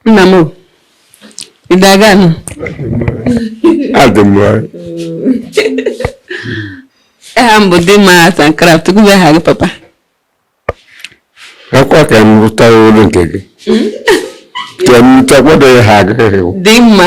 nna m ị dị aga nụ adị m aha m bụ Dimma sankara tupu aha gị papa akwa ka m rụta olu nke gị ka m rụta kwado ya ha agaghị dị mma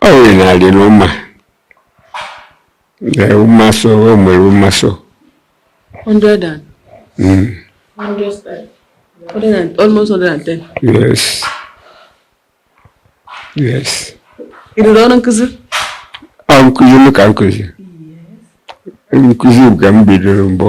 ọ nwere na adị n'ụma na ụmasọ o nwere ụmasọ 100 and Mm, 100 and almost 110 yes yes ị rụrụ ọrụ nkụzi ọ nkụzi m ka nkụzi nkụzi ka m bidoro mbụ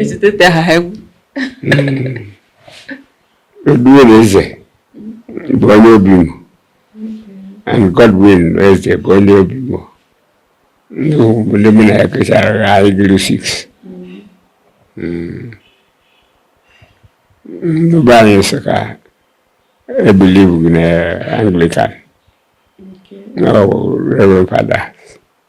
ezitete ha ha egwu Godwin Eze bụ onye Obimo and Godwin Eze bụ onye Obimo ndị obodo mụ na ya kechara anyị gụrụ six ndị be anyị Nsụka ebelieveghị na Anglican na Reverend Father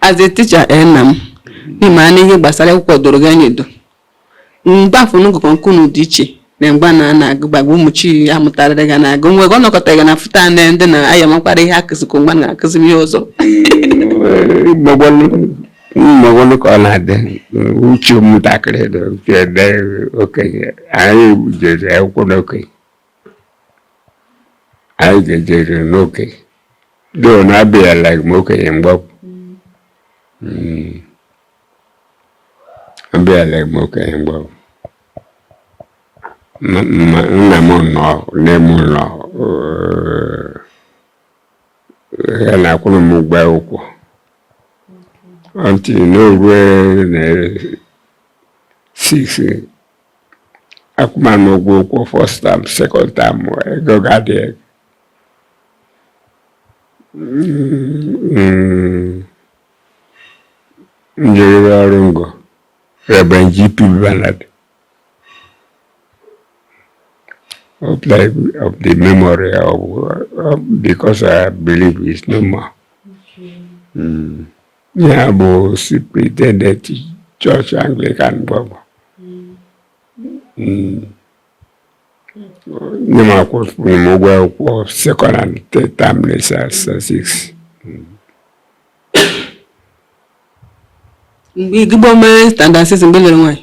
as a teacher ee eh, nna m ị ma na ihe gbasara akwụkwọ doro gị anya edo mgbe afụ unu gụkọ nke unu dị iche na mgbe na na-agụ gbagba ụmụ chi ya mụtarịrị ga na-agụ nwe ọ nọkọta ga na fụta na ndị na aya makwara ihe a kụzikọ mgbe na-akụzi ihe ọzọ mmagwalụ ka ọ na-adị uche ụmụntakịrị dị okenye anyị jere akwụkwọ n'okenye anyị jejere n'okenye though na abịaleghị m okenye mgbe ọbụ Mm. abịaleghị m okenye mgbe ọbụ Ma- ma- nna m nọ nne m nọ eh, ya na-akwụrụ m ụgwọ akwụkwọ until o rue na six akwụma m ụgwọ akwụkwọ first time second time ego ga-adị ego m jeriri ọrụ ngo Reverend G.P. Bernard of, like, of the memory of, of because I believe it's no more. Mm. nya bụ superintendent chọọchị Anglican gboo hmm. nne m akwụrụ m ụgwọ akwụkwọ second and third term six mgbe igbo mere standard six mgbe lere nwaanyị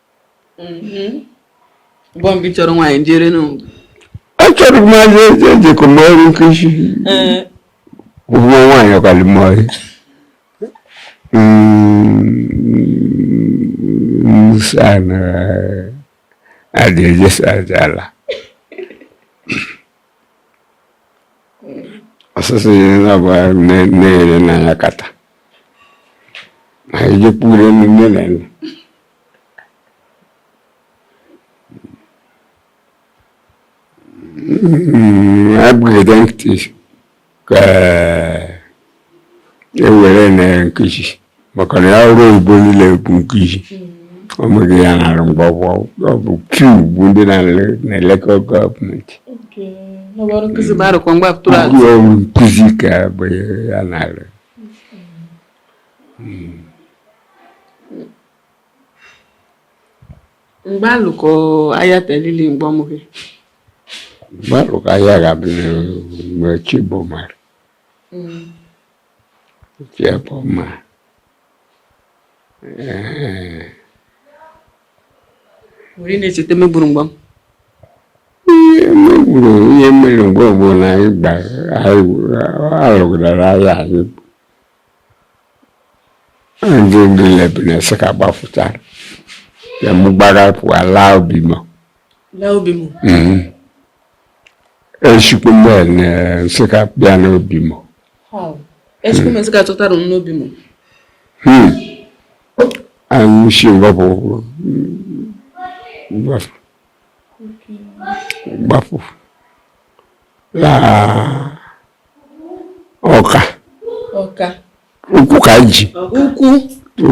achọrọ m aja eje ejekọ m ọrụ nkụzi ụmụ nwaanyị ọkara m ọrụ nsana adị eje saja ala ọsụsụ ya na-abụ na-ere n'anya kata ma ejekpure nne na nne abụghịde ntị ka ewere na nkụzi maka na ya ọrụ oyibo niile bụ nkụzi ọ bụghị ya na-arụ mgbe ọ bụ kiu bụ ndị na-elekọ gọọmenti nkụzi ka be ya na-arụ m gbalụ ka ahịa telili mgbe ọ mụghị m gbalụ ka ahịa ga-abịa mgbe chi bọ mara chi bọ ma were na-echeta megburu mgbe m ihe megburu ihe mere mgbe ọbụla anyị gbara alụgara ahịa anyị ndị ndị lebu na-asị ka gbafụta ya mụ gbara pụọ laa obimo laa obimo mhm. echukwu m na-asị ka bịa n'obimo echukwu m asị ka chọtara m n'obimo hmm. anyị si ngọpụ gbafụ gbafụ laa ọka ọka ụkwụ ka e ji ụkwụ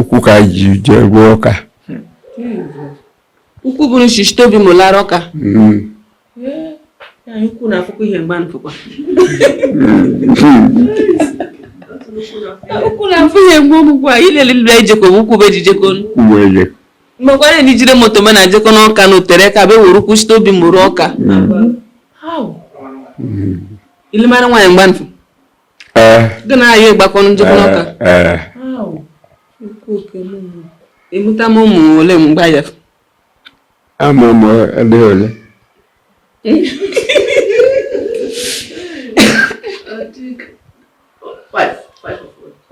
ụkwụ ka e ji jee gbuo ọka ụkwụ bụrụ shi shite obimo lara ọka hmm. ụkwụ na-afụkwa ihe mgba nfụkwa ụkwụ na-afụ ihe mgbe ọmụkwa ilele lụrụ ejekọ bụ ụkwụ bụ e ji ejekọ mgbekwara ndị jiri moto ma na-ejekọ n'ọka na o tere aka be were ụkwụ site obimo ruo ọka hmm. ị lụmara nwaanyị mgba nfụ eh. gị na ya agbakọ ejekọ eh, n'ọka eh. ị mụtama ụmụ ole mgbe ya ama m ndị ole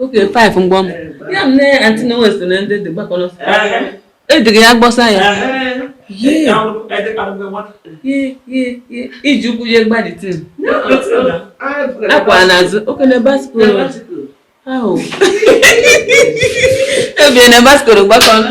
okay five mgbọ m ya m nne anti na west na ndị dị gbakọrọ edịghị ya gbọsa ya iji ụkwụ ya gbadite akwa n'azụ oke na bicycle ahụ ebie na bicycle gbakọrọ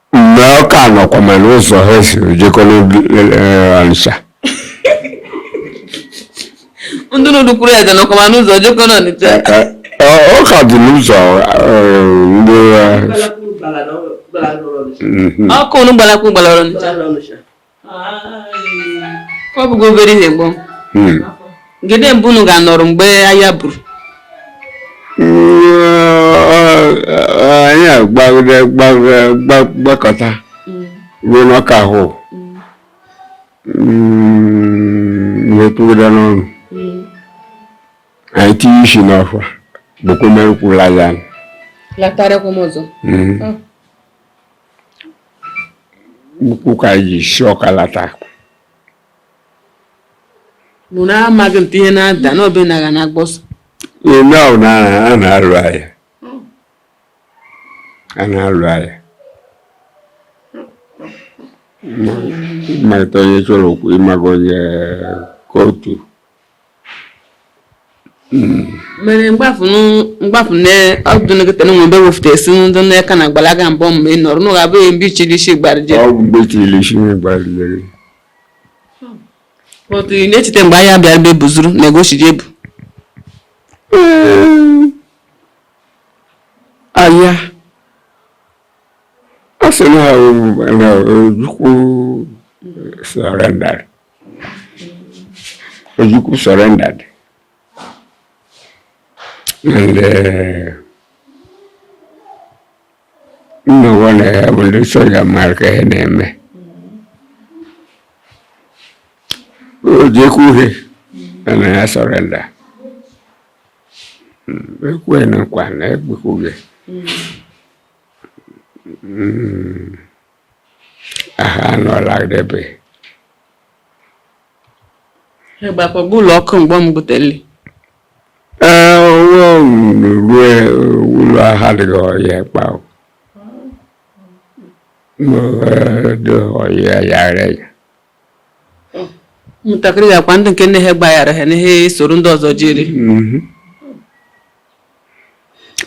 mgbe Ọka nọkwa ma n'ụzọ ha si jekọ n'Ọnịcha ndị n'ụdị kwuru ya nọkwa ma n'ụzọ jekọ n'Ọnịcha Ọka dị n'ụzọ ndị ọkụ unu gbalakwu gbalara Ọnịcha ọ bụgo obere ihe gbọm hmm. gede ebe unu ga-anọrọ mgbe aya buru anyị agbagide gbakọta hmm. ruo n'Ọka ahụ hmm. wee tụgide n'ọnụ anyị tinye isi n'ọfịa bụkwa mere kwuru anya latarakwa m ọzọ mm. oh. ụkwụ ka anyị ji si Ọka lata mụ na amaghị m ihe na-ada n'obi na na-agba ọsọ ime ahụ na a na-alụ aya a na-alụ aya ịmata onye chọrọ okwu ịmaga onye kootu mere mgbafu na ọdụ nkịta na nwebe wefute isi ndị nne ka na-agbalaga mbọ mgbe ị nọrọ n'ụlọ abụghị mgbe ichiri isi gbarije ọ bụ mgbe ichiri isi gbarije otu ị na-echeta mgbe aya bịara be buzuru na ego chiri ebu aya ọ sị na Ojukwu surrender Ojukwu surrendered. And uh, no one will do so your mara ka ihe na-eme. Ojukwu he and I surrender. Ekwe na nkwa na ekwe kuge. Mm. aha anọla debe ịgbakọgbu ụlọ ọkụ mgbe m gụtele ee onwe m rue ụlọ aha dịghị ọhịa kpa dị ọhịa yara ya ụmụntakịrị ya akwa ndị nke nne ha gbaghara ha na ha soro ndị ọzọ jiri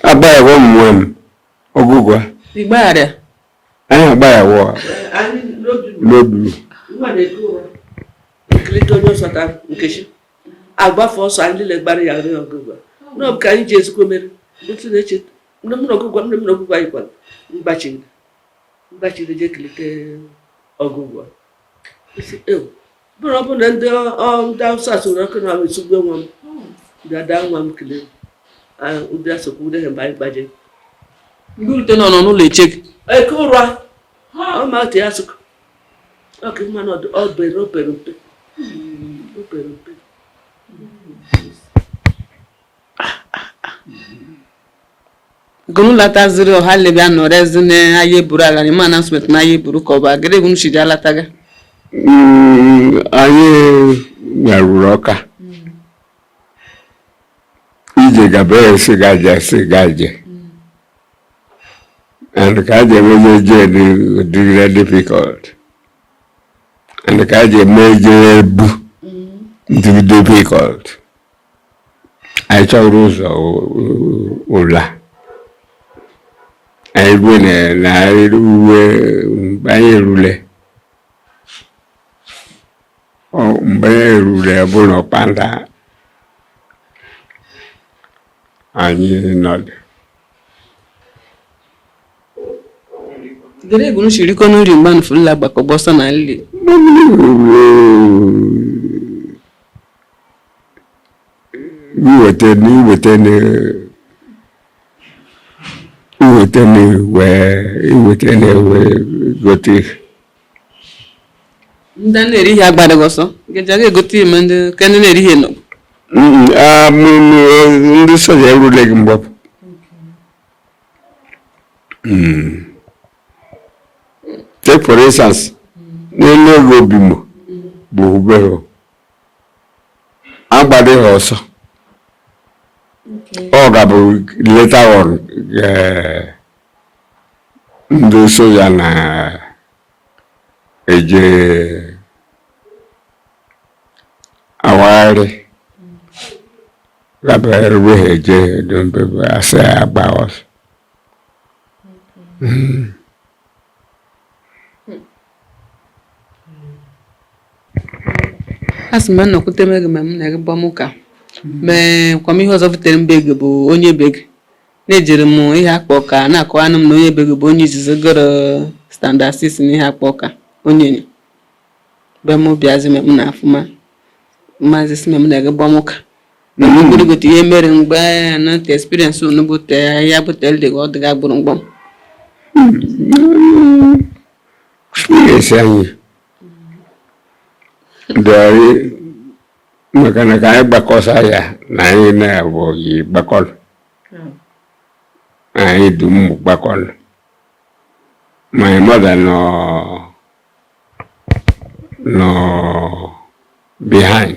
agbaghịwa m nwe m ọgụgwa ịgbaghara anyị agba ya wụọ n'odulu agbafe ọsọ anyị niile gbara ya nri ọgụgụ n'ọbụ ka anyị ji ezikwo mere otu na-eche nne m na ọgụgụ nne m na ọgụgụ anyị kwara mgbachiri mgbachiri je kelite ọgụgụ bụrụ bụ na ndị ndị Awụsa soro ọkụ na esugbu nwa m dada nwa m kelee ndị asokwu ndị ha mgbe anyị gbaje ndị urute nọ nọ n'ụlọ eche gị eke ụra ọma otu ya sụkọ ọkụ mmanụ obere obere mpe obere mpe gonu lata ziri ọha lebi anọ rezi na aye buru announcement na aye buru ka ọ bụ agịrị bụ nchiji alataga Mm, anyị bịaruru ọka ije gaba esi gaje esi gaje and ka aje meje je dịgide difficult and ka aje meje ebu dịgide difficult anyị chọrọ ụzọ ụla anyị rue na uwe mgbe anyị erule mgbe anyị erule bụ na Ọkpanda anyị nọdụ gere ego nshiri ko n'uri mgbe nfu nla gbakọ gba ọsọ na nli. iweta na iweta na iweta na wee iweta na wee gote ihe ndị na-eri ihe agbadaghị ọsọ nkeji aga egote nri ndị nke ndị na-eri ihe nọ ndị soja erule gị mgbapụ take for instance n'elu ego Obimo bụ obere agbadị ha ọsọ ọ ga-abụ later on eh, ndị soja na eje awagharị gaba eruwe ha eje dombe asị agba ọsọ a sị m na nnọkwute m gị ma m na gị gbam ụka mee kwa m ihe ọzọ butere m be gị bụ onye be gị na-ejere m Iheakpụ Ọka na-akọwanụ m na onye be gị bụ onye izizi gụrụ standard 6 na Iheakpụ Ọka onye nyo be m bịazi m na afụma maazị sị m na gị gbam ụka na m gburugote ihe mere mgbe na nta experience unu bute ya bute dị ọ dịga gburu mgbam experience anyị dịrị maka na ka anyị gbakọsa ya na anyị na-abụ anyị gbakọrọ anyị dum gbakọrọ my mother nọ nọ behind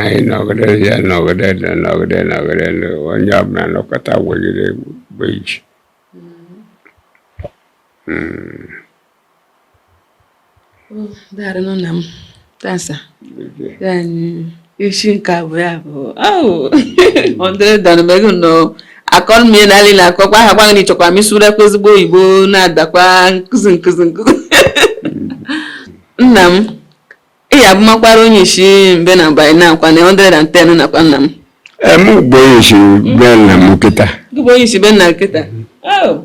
anyị nọgide ya nọgide nọgide nọgide onye ọbụla nọkọta wegide bụ iji daarịnụ na m tasa isi nke abụọ ya bụ ọ dịrị danụ megụ nnọọ akọrọ m ihe n'alị na akọkwa aha gwaghị na ịchọkwa m ịsụrụ kwa ezigbo oyibo na-adakwa nkụzi nkụzi nkụzi nna m ị ya abụmakwara onyishi be nna mba na akwa na 110 nakwa nna m Em ugbo isi be nna m kịta gị bụ onyishi be nna kịta Oh,